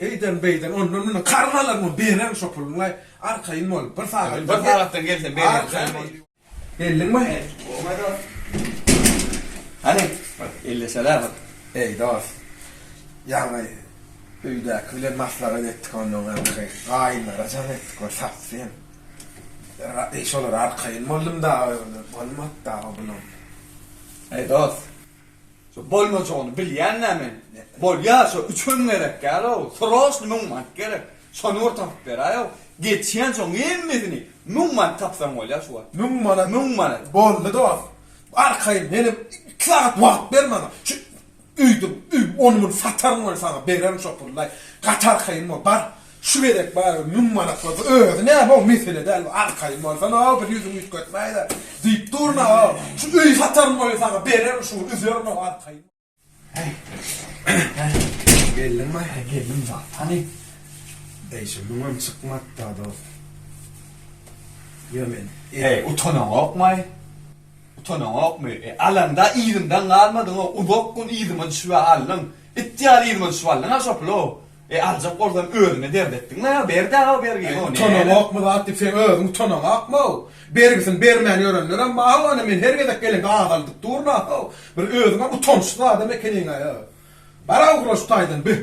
Eýden, beýden, ondan, mundan karz alarmyň, bererin şo puluňy, arkaýyn bol, bir sagatdan, bir sagatdan gelsem bererin, şeýle. Geldiňmi? Bolmaý dost. Hany, bir elleşel-ä bir. Eý, dost, ýaňy öýdäki bilen maslahat etdik, ondan soň bir gaýynlara jan etdik, bir satsyn. Şolara arkaýyn boldum dagy, bolmady dagy o pulam. Eý, dost. Şo bolmajagyny bilýän-dä men. Bolýa, şo üçem gerek däl-ow, sroçny müň manat gerek. Şony bir tapyp beräý-ow. Geçýänsoň hemmesini müň manat tapsaň bolýa şu wagt. Müň manat? Müň manat. Boldy dost. Arkaýyn, menem iki sagat wagt ber maňa. Şu öýdüp, ony-muny sataryn welin saňa bererin şo pullaý. Gaty arkaýyn bol, bar. Şu gezek barybir müň manat bolsa özi näme-ow mesele däl, bu arkaýyn bolsan-ow bir ýüzüňi üýtgetmäýdä diýip durna-ow. Şu öýi sataryn oýa saňa bererin şuny üzerin-ow arkaýyn. Häý, hä, geldiňmi? Hä, geldim bar. Hany, beýşe müňem çykmady-da dost. Ýör men. Eý, utanaňokmaý? Utanaňokmy? E, alaňda yzymdan galmadyň-ow, uzak gün yzyma düşüp-ä aldyň. It ýaly yzyma düşüp aldyň-a şo puly-ow. E aljak bolsaň özüňe dert etdiň la ýa ber daga bergini o ne. Utananokmy zat diýip seň özüň utananokmyw? Bergisini bermän ýörenlerem bar how ana men her gezek gelende azaldyp durun ahaw bir özüňem utançsyz adam ekeniňaý a baraw gura şu taýdan bih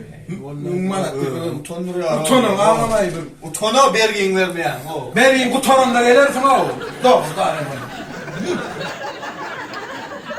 müň manat diýip özüňi utandyrýaň utanan aňamaý bir utanaw bergiňi bermeýäň how. Bergiň gutaranda gelersiň how dogry daýy.